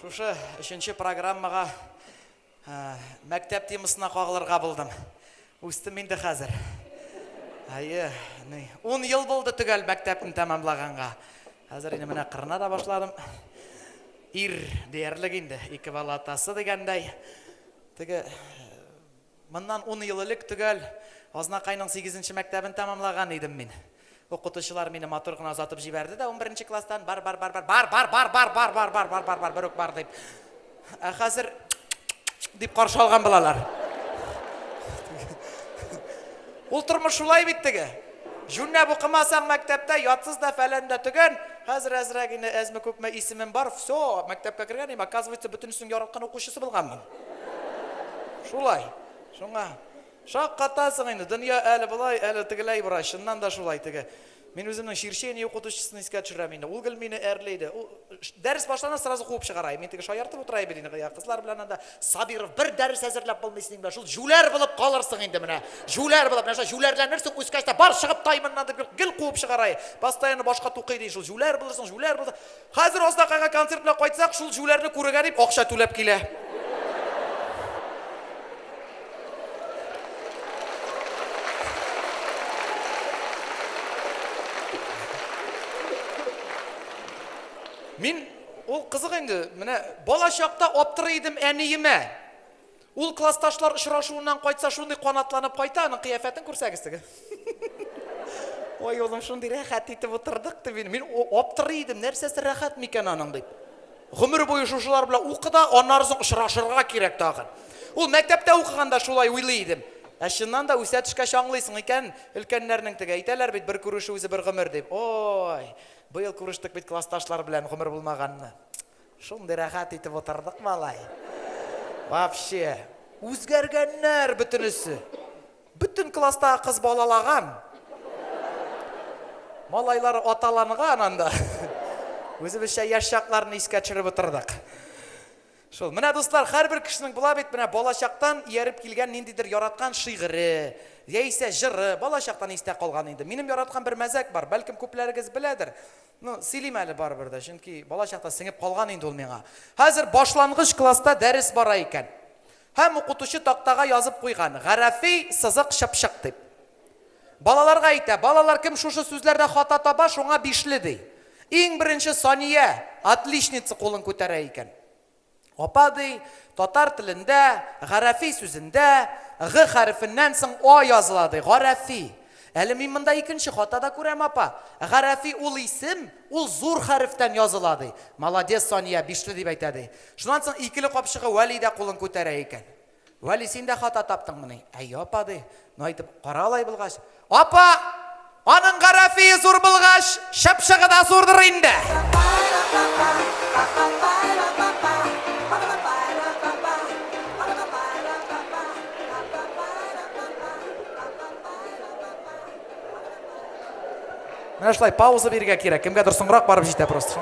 Шушы өченче программага мәктәп темасына кагылырга булдым. Үстем инде хәзер. Әйе, ни, 10 ел булды төгәл мәктәпне тәмамлаганга. Хәзер инде менә кырына да башладым. Ир диярлек инде, ике бала атасы дигәндәй. Теге Моннан ун ел элек төгәл Азнакайның сигезенче мәктәбен тәмамлаган идем мин. Укытучылар мине матур гына озатып җибәрде дә унберенче класстан, бар, бар, бар, бар, бар, бар, бар, бар, бар, бар, бар, бар, бар, бар, бер үк бар дип. Ә хәзер дип каршы алган булалар. Ул тормыш шулай бит теге. Җүннәп укымасаң мәктәптә, ятсыз да фәлән дә төгән, хәзер әзрәк инде әзме күпме исемем бар, все, мәктәпкә кергән, им, оказывается, бөтенесенең яраткан укучысы булганмын. Шулай. Шуңа шаккатасың инде. Дөнья әле болай, әле тегеләй бара. Чыннан да шулай теге. Мин үземнең черчение укытучысын искә төшерәм инде. Ул гел мине әрли иде. Ул дәрес башлана сразу куып чыгара. Мин теге шаяртып утыра бит инде. Я кызлар белән анда Сабиров бер дәрес әзерләп булмый синең белән. Шул җүләр булып калырсың инде менә. Җүләр булып. Менә шулай җүләрләнерсең, үскәч тә бар чыгып тай моннан дип гел куып чыгара. Постоянно башка тукый ди. Шул җүләр булырсың, җүләр булырсың. Хәзер Азнакайга концерт белән кайтсак, шул җүләрне күрергә дип акча түләп килә. Мин, ул кызык инде, менә балачакта аптырый идем әниемә. Ул классташлар очрашуыннан кайтса шундый канатланып кайта, аның кыяфәтен күрсәгез теге. Ой, улым, шундый рәхәт итеп утырдык дип, мин аптырый идем, нәрсәсе рәхәт микән аның дип. Гомер буе шушылар белән укы да, аннары соң очрашырга кирәк тагын. Ул мәктәптә укыганда шулай уйлый идем. Ә чыннан да үсә төшкәч аңлыйсың икән, өлкәннәрнең теге әйтәләр бит, бер күрешү үзе бер гомер дип. Ой, быел күрештек бит классташлар белән, гомер булмаганны. Шундый рәхәт итеп утырдык малай. Вообще. Үзгәргәннәр бөтенесе. Бөтен класстагы кыз балалаган. Малайлар аталанган анда. Үзебезчә яшь чакларны искә төшереп утырдык. Шул. Менә дуслар, һәрбер кешенең була бит, менә балачактан ияреп килгән ниндидер яраткан шигыре, яисә җыры, балачактан истә калган инде. Минем яраткан бер мәзәк бар, бәлкем күпләрегез беләдер. Ну, сөйлим әле барыбер дә, чөнки бала чакта сеңеп калган инде ул миңа. Хәзер башлангыч класста дәрес бара икән. Һәм укытучы тактага язып куйган, гарәфи сызык чыпчык дип. Балаларга әйтә, балалар кем шушы сүзләрдә хата таба, шуңа бишле, ди. Иң беренче Сания, отличница, кулын күтәрә икән. Апа, ди, татар телендә, гарәфи сүзендә, г хәрефеннән соң а языла, ди, гарәфи. Әле мин монда икенче хата да күрәм, апа. Гарәфи ул исем, ул зур хәрефтән языла, ди. Молодец, Сания, бишле дип әйтә, ди. Шуннан соң икеле капчыгы Вәли дә кулын күтәрә икән. Вәли, син дә хата таптыңмыни? Әйе, апа, ди. Ну, әйтеп кара алай булгач. Апа! Аның гарәфие зур булгач, чыпчыгы да зурдыр инде. Менә шулай пауза бирергә кирәк. Кемгәдер соңрак барып җитә просто.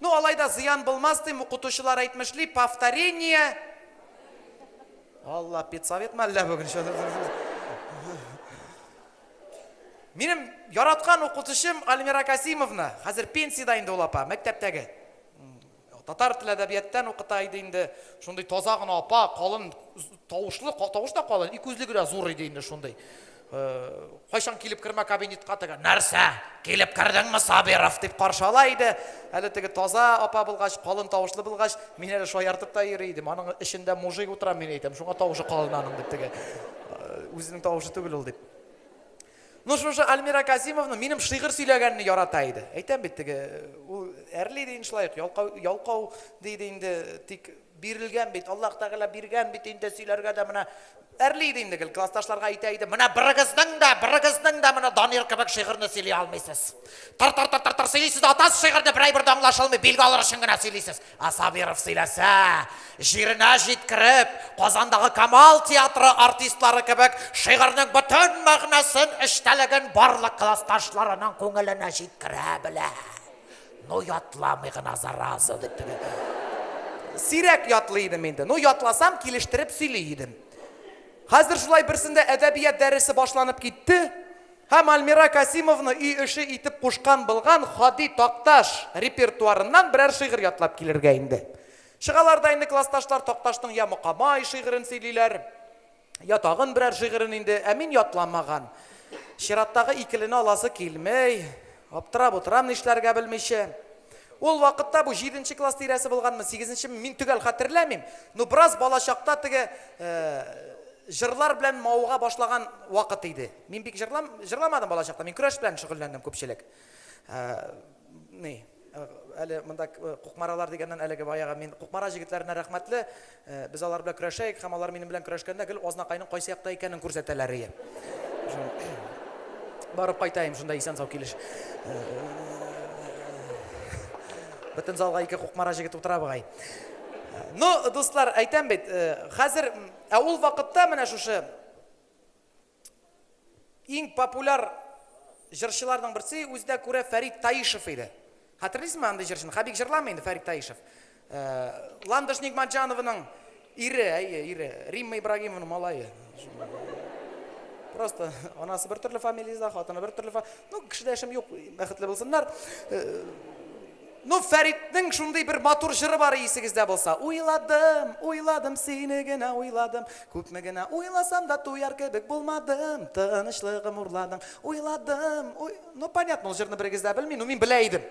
Ну алай да зыян булмас дим, укытучылар әйтмешли, повторение. Алла, педсовет ма әллә бүген? Минем яраткан укытучым Альмира Касимовна, хәзер пенсиядә инде ул апа, мәктәптәге. Татар теле әдәбияттан укыта иде инде. Шундый таза гына апа, калын тавышлы, тавыш та калын, ике күзле генә зур иде инде шундый. Кайчан килеп кермә кабинетка теге нәрсә? Килеп кердеңме, Сабиров дип каршы ала иде. Әле теге таза апа булгач, калын тавышлы булгач, мин әле шаяртып та йөри идем. Аның эчендә мужик утыра, мин әйтәм, шуңа тавышы калын аның дип теге. Үзенең тавышы түгел ул дип. Ну шушы Альмира Казимовна минем шигырь сөйләгәнне ярата иде. Әйтәм бит теге, ул әрли дигән шулай, ялкау, ялкау диде инде, тик Бирелгән бит, Аллаһ Тәгалә биргән бит инде, сөйләргә дә менә әрли иде инде гел, классташларга әйтә иде, менә берегезнең дә, берегезнең дә менә Данир кебек шигырьне сөйли алмыйсыз. Тар тар тар тар тар сөйлисез, атасыз шигырьне берәй бер дә аңлашылмый, билге алыр өчен генә сөйлисез. А Сабиров сөйләсә, җиренә җиткереп, Казандагы Камал театры артистлары кебек шигырьнең бөтен мәгънәсен, эчтәлеген барлык классташларының күңеленә җиткерә белә. Ну, ятламый гына, зараза, дип теге. Сирәк ятлый идем инде. Ну, ятласам, килештереп сөйли идем. Хәзер шулай берсендә әдәбият дәресе башланып китте. Һәм Альмира Касимовны өй эше итеп кушкан булган Хади Такташ репертуарыннан берәр шигырь ятлап килергә инде. Чыгалар да инде классташлар Такташның Я мокамай шигырен сөйлиләр. Я тагын берәр шигырен инде, ә мин ятламаган. Чираттагы икелене аласы килмей. Аптырап утырам нишләргә белмичә. Ул вакытта бу җиденче класс тирәсе булганмы, сигезенчеме, мин төгәл хәтерләмим. Ну бераз балачакта теге җырлар белән мавыга башлаган вакыт иде. Мин бик җырламадым балачакта, мин көрәш белән шөгыльләндем күпчелек. Ни. Әле монда Кукмаралар дигәннән әлеге баягы мин Кукмара җегетләренә рәхмәтле. Без алар белән көрәшәек һәм алар минем белән көрәшкәндә гел Азнакайның кайсы якта икәнен күрсәтәләрие. Барып кайтаем шунда исән-сау килеш. Бөтен залга ике Кукмара җегет утыра бугай. Ну, дуслар, әйтәм бит, хәзер, ә ул вакытта менә шушы иң популяр җырчыларның берсе үзенә күрә Фәрит Таишев иде. Хәтерлисезме андый җырчыны? Хәбик җырламый инде Фәрит Таишев. Э, Ландыш Нигматҗанованың ире, әйе, ире, Римма Ибрагимованың малае. Просто анасы бер төрле фамилияда, хатыны бер төрле. Ну, кешедә эшем юк, бәхетле булсыннар. Э, Ну, Фәритнең шундый бер матур җыры бар, исегездә булса. Уйладым, уйладым, сине генә уйладым, Күпме генә уйласам да, туяр кебек булмадым, Тынычлыгым урладың, уйладым, уй... Ну, понятно, ул җырны берегез дә белми, ну, мин белә идем.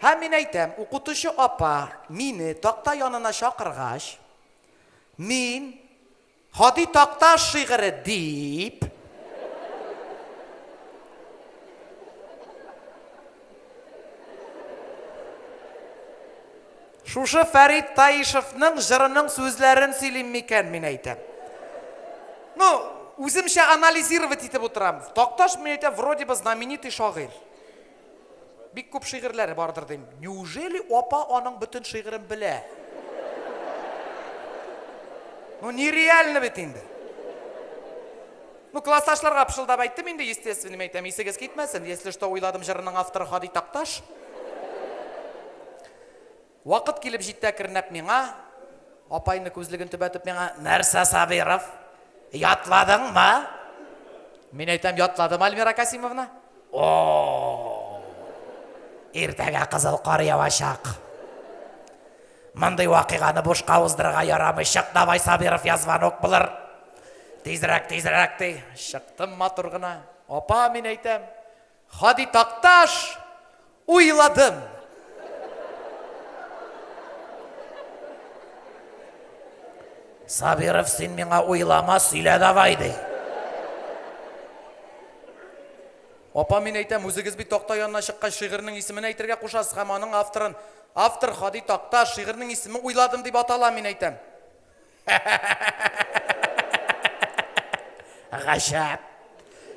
Һәм мин әйтәм, укытучы апа мине такта янына чакыргач, мин Һади Такташ шигыре дип. Шушы Фәрит Таишевның җырының сүзләрен сөйлим микән, мин әйтәм. Ну, үземчә анализировать итеп утырам. Такташ, мин әйтәм, вроде бы знаменитый шагыйрь. Бик күп шигырьләре бардыр дим. Неужели апа аның бөтен шигырен белә? Ну, нереально бит инде. Ну, классташларга пышылдап әйттем инде, естественным әйтәм, исегез китмәсен. Если что, уйладым җырының авторы Хади Такташ. Вакыт килеп җитә кернәп миңа, апайны күзлеген төбәтеп миңа, Нәрсә, Сабиров, ятладыңмы? Мин әйтәм, ятладым, Альмира Касимовна. О! Иртәгә кызыл кар явачак. Мондый вакыйганы бушка уздырырга ярамый. Чык давай, Сабиров, я звонок булыр. Тизрәк, тизрәк, ди. Чыктым матур гына. Апа, мин әйтәм, Һади Такташ, уйладым! Сабиров, син миңа уйлама, сөйлә давай, ди. Апа, мин әйтәм, үзегез бит такта янына чыккач шигырьнең исемен әйтергә кушасыз һәм аның авторын. Автор Хади Такта, шигырьнең исеме уйладым дип атала, мин әйтәм. Гаҗәп.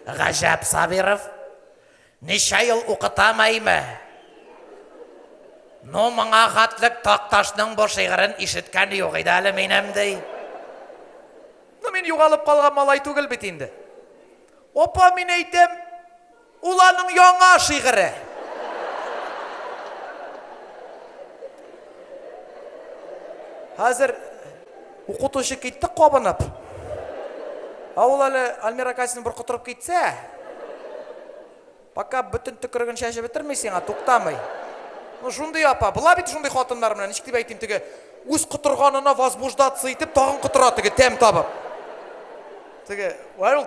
Гаҗәп Сабиров. Ничә ел укытам әйме? Ну, моңа хатлык Такташның бу шигырен ишеткән юк иде әле минем ди. Ну, мин югалып калган малай түгел бит инде. Опа, мин әйтәм, Ул аның яңа шигыре. Хәзер укытучы китте кабынып. Ә ул әле Альмира Касин бер котырып китсә, пока бөтен төкереген чәчеп бетерми сиңа, туктамый. Ну, шундый апа, була бит шундый хатыннар менә, ничек дип әйтим, теге үз котырганына возбуждаться итеп, тагын котыра теге тәм табып. Теге, вай ул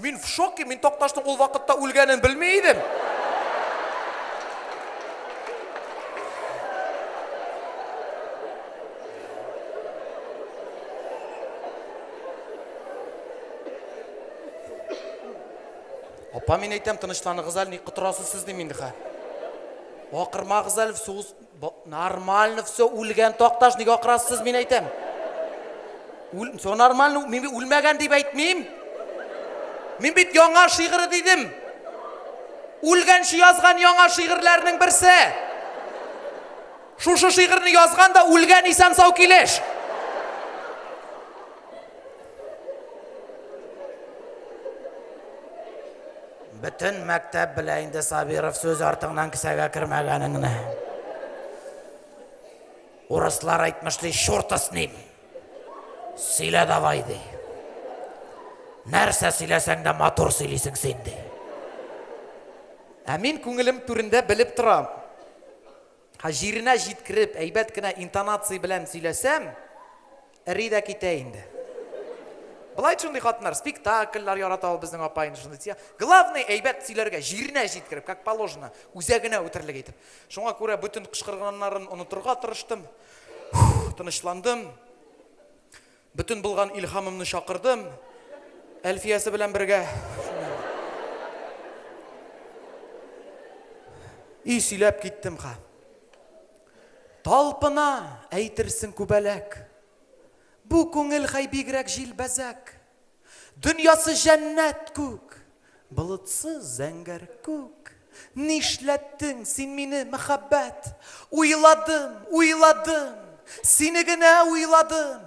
Мин в шоке, мин Такташның ул вакытта үлгәнен белми идем. Апа, мин әйтәм, тынычланыгыз әле, ни котырасыз сез дим инде хә. Акырмагыз әле, сугыз Бо, нормально все, үлгән такташ, ник акырасыз, мин әйтәм. Үл, все нормально, мин үлмәгән дип әйтмим. Мин бит яңа шигыры дидем. Үлгәнче язган яңа шигырьләрнең берсе. Шушы шигырьне язган да үлгән исән сау килеш. Бөтен мәктәп белә инде Сабиров сүз артыңнан кесәгә кермәгәнеңне. Урыслар әйтмешли, шурта с ним. Сөйлә давай, ди. Нәрсә сөйләсәң дә матур сөйлисең син, ди. Ә мин күңелем түрендә белеп торам. Ха җиренә җиткереп, әйбәт кенә интонация белән сөйләсәм, Эри дә китә инде. Былай шундый хатыннар, спектакльләр ярата ул безнең апа инде шундый тия. Главный әйбәт сөйләргә, җиренә җиткереп, как положено, үзәгенә үтерлек итеп. Шуңа күрә бөтен кычкырганнарын онытырга тырыштым. Тынычландым. Бөтен булган илһамымны чакырдым. Әлфиясе белән бергә. И сөйләп киттем ха. Талпына, әйтерсең, күбәләк. Бу күңел хәй бигрәк җилбәзәк. Дөньясы җәннәт күк, болытсыз зәңгәр күк. Нишләттең син мине, мәхәббәт? Уйладым, уйладым, сине генә уйладым.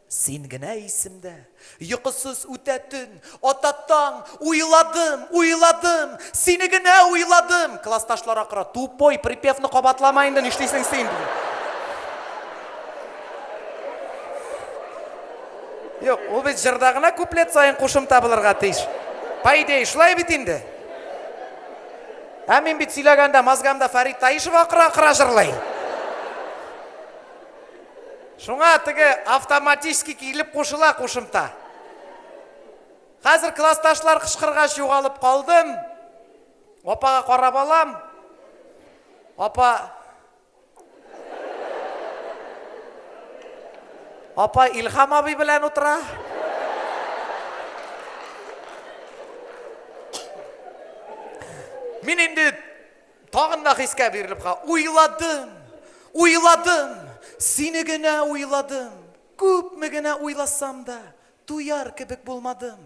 Син генә исемдә, йокысыз үтә төн, Ата таң, уйладым, уйладым, сине генә уйладым! Классташлар акыра, Тупой, припевны кабатлама инде, нишлисең син? ди. Юк, ул бит җырда гына куплет саен кушымта булырга тиеш. По идее, шулай бит инде. Ә мин бит сөйләгәндә мозгамда Фәрит Таишев акыра-акыра җырлый. Шуңа теге автоматически килеп кушыла кушымта. Хәзер классташлар кычкыргач югалып калдым. Апага карап алам. Апа Апа Илхам абый белән утыра. Мин инде Тагын да хискә бирелеп ка, уйладым, уйладым, сине генә уйладым. Күпме генә уйласам да, туяр кебек булмадым.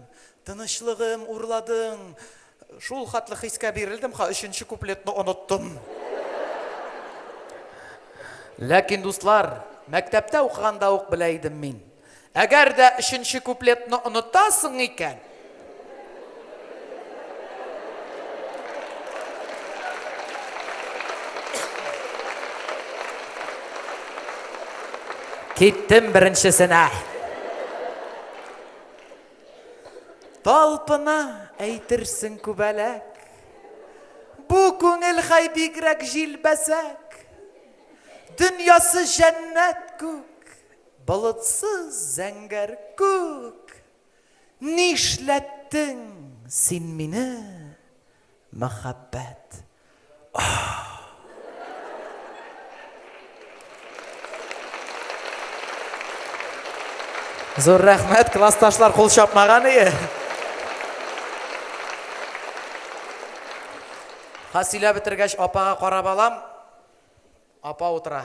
Тынычлыгым урладың. Шул хатлы хискә бирелдем ха, өченче куплетны оныттым. Ләкин, дуслар, мәктәптә укыганда ук белә идем мин. Әгәр дә өченче куплетны онытасың икән, Киттем беренчесенә. Талпына әйтерсең күбәләк. Бу күңел хай бигрәк җилбәзәк. Дөньясы җәннәт күк, Болытсыз зәңгәр күк, Нишләттең син мине, мәхәббәт, ах! Зур рәхмәт, классташлар кул чапмаган ие. Ха сөйләп бетергәч, апага карап алам. Апа утыра.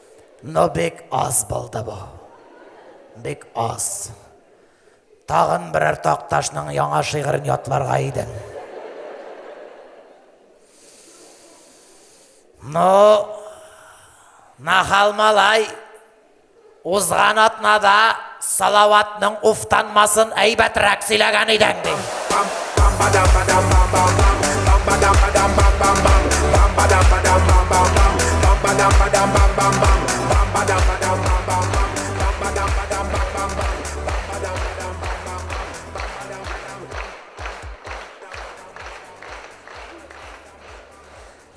Ну бик аз булды бу. Бик аз. Тагын берәр Такташның яңа шигырен ятларга идең. Ну, Нахал малай, узган атнада Салаватның уфтанмасын әйбәтрәк сөйләгән идең, ди.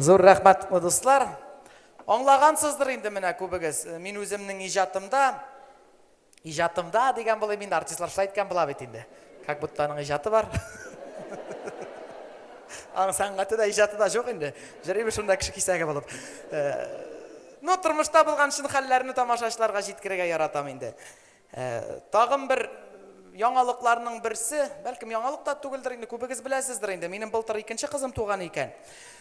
Зур рәхмәт, дуслар! Аңлагансыздыр инде менә күбегез, мин үземнең иҗатымда Иҗатымда дигән булыйм инде, артистлар шулай әйткән була бит инде. Как будто аның иҗаты бар. Аның сәнгате дә, иҗаты да жоқ инде. Җырыйбыз шунда кеше кисәге булып. Ну, тормышта булган шын хәлләрне тамашачыларга җиткерергә яратам инде. Тагын бер яңалыкларның берсе, бәлкем яңалык та түгелдер инде, күбегез беләсездер инде, минем былтыр икенче кызым туган икән.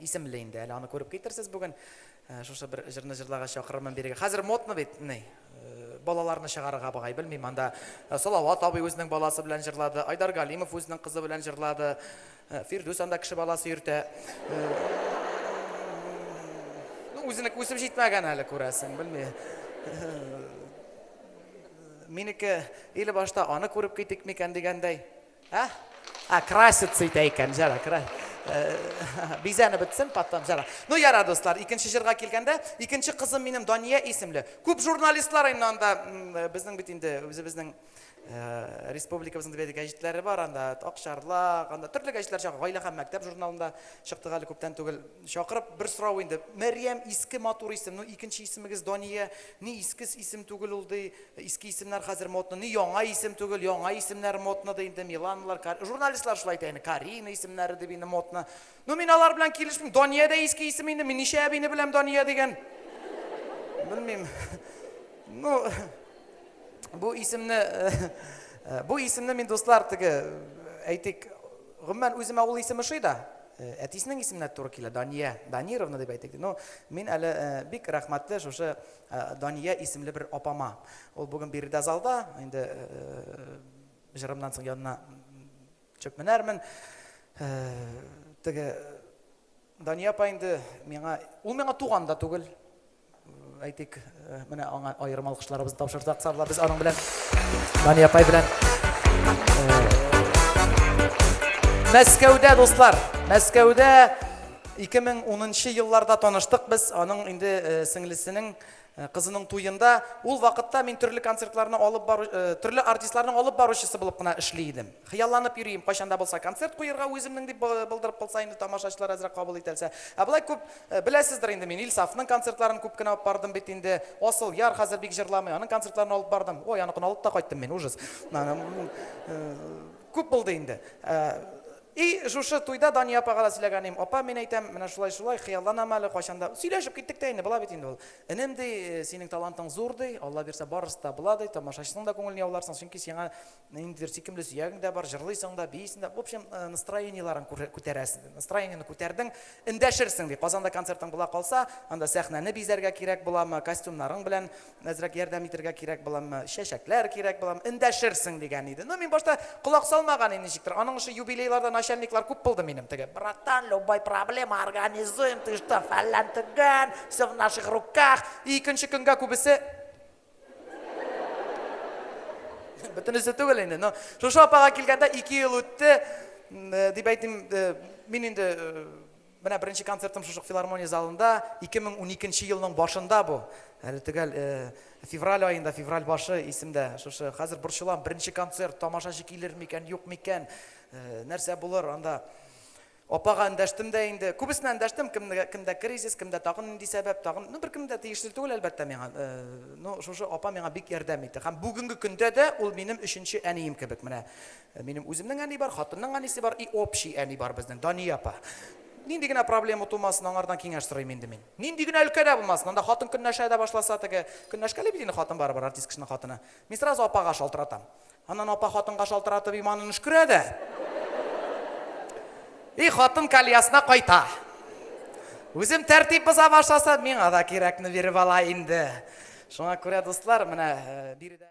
исемле инде, әле аны күреп китерсез бүген. Шушы бер җырны җырларга чакырырмын бирегә. Хәзер модны бит, ни, балаларны чыгарырга багай, белмим, анда Салават абый үзенең баласы белән җырлады, Айдар Галимов үзенең кызы белән җырлады, Фирдүс анда кеше баласы йөртә. Ну, үзенеке үсеп җитмәгән әле, күрәсең, белмим. Минеке или башта аны күреп китик микән дигәндәй. Ә? Ә, краситься итә икән, җара, кра... Э, бизәне бетсен, потом җара. Ну, яра, дуслар, икенче җырга килгәндә, икенче кызым минем Дания исемле. Күп журналистлар инде анда, э, безнең бит инде, үзебезнең э, республикабызның дебәде гәҗитләре бар анда, Акчарлак, анда төрле гәҗитләр чак, гаилә һәм мәктәп журналында чыктык әле күптән түгел. Чакырып бер сорау инде. Мәрьям иске матур исем, ну икенче исемегез Дания, Ни искс исем түгел ул ди, иске исемнәр хәзер модно, ни яңа исем түгел, яңа исемнәр модно ди инде, Миланалар, Кар... журналистлар шулай әйтә инде, Карина исемнәре дип инде модно. Ну мин алар белән килешмим, Дания дә иске исем инде, мин ничә әбине беләм Дания дигән. Белмим. Ну, бу исемне, э, бу исемне мин дуслар теге, әйтик, Гомумән, үземә ул исем ошый да. Әтисенең исеменә дә туры килә, Дания, Данировна дип әйтик ди. Ну, мин әле бик рәхмәтле шушы Дания исемле бер апама. Ул бүген биредә залда, инде җырымнан соң янына төшеп менәрмен. Теге Дания апа инде миңа, ул миңа туган да түгел, әйтик, э, менә аңа аерым алкышларыбызны тапшырсак, сабла без аның белән Дания апай белән э, Мәскәүдә дуслар, Мәскәүдә 2010 елларда таныштык без, аның инде э, сеңлесенең Кызының туенда, ул вакытта мин төрле концертларны алып бару, төрле артистларның алып баручысы булып кына эшли идем. Хыялланып йөрим, кайчан да булса концерт куерга үземнең дип былдырып кылса инде тамашачылар әзрәк кабул ителсә. Ә болай күп, беләсездер инде, мин Илсафның концертларын күп кенә алып бардым бит инде. Асыл яр хәзер бик җырламый, аның концертларын алып бардым. Ой, аныкын алып та кайттым мин, ужас. Күп булды инде. И, шушы туйда Дания апага да сөйләгән идем, Апа, мин әйтәм, менә шулай-шулай, хыялланам әле, кайчан да, сөйләшеп киттек тә инде, була бит инде ул. Энем, ди, синең талантың зур, ди, Алла бирсә, барысы да була, ди, тамашачысының да күңелен яуларсың, чөнки сиңа ниндидер сөйкемле сөягең дә бар, җырлыйсың да, биисең дә, в общем, настроениеләрен күтәрәсең, ди. Настроениене күтәрдең, эндәшерсең, ди. Казанда концертың була калса, анда сәхнәне бизәргә кирәк буламы, костюмнарың белән Әзрәк ярдәм итергә кирәк буламы, чәчәкләр кирәк буламы, эндәшерсең, дигән иде. Ну, мин башта колак салмаган идем ничектер. Аның эше юбилейларда начальниклар күп булды минем. Теге, братан, любой проблема организуем, ты что, фәллән төгән, все в наших руках. И икенче көнгә күбесе Бөтенесе түгел инде. Но шушы апага килгәндә 2 ел үтте, э, дип әйтим, э, мин инде э, Менә беренче концертым шушы филармония залында, 2012 нче елның башында бу, әле төгәл февраль аенда, февраль башы исемдә, шушы хәзер борчылам, беренче концерт, тамашачы килер микән, юк микән, нәрсә булыр анда. Апага эндәштем дә инде, күбесенә эндәштем, кемдә, кемдә кризис, кемдә тагын нинди сәбәп, тагын, ну беркем дә тиешле түгел әлбәттә миңа, ну шушы апа миңа бик ярдәм итте һәм бүгенге көндә дә ул минем өченче әнием кебек, менә Минем үземнең әни бар, хатынның әнисе бар и общий әни бар безнең, Дания апа. Нинди генә проблема тумасын, аңардан киңәш сорыйм инде мин. Нинди генә өлкә дә булмасын, анда хатын көнләшә дә башласа теге, көнләшкәли бит инде хатын барыбер, артист кешенең хатыны. Мин сразу апага шалтыратам. Аннан апа хатынга шалтыратып иманын өшкерә дә. И хатын кальясына кайта. Үзем тәртип боза башласа, миңа да кирәкне биреп ала инде. Шуңа күрә, дуслар, менә биредә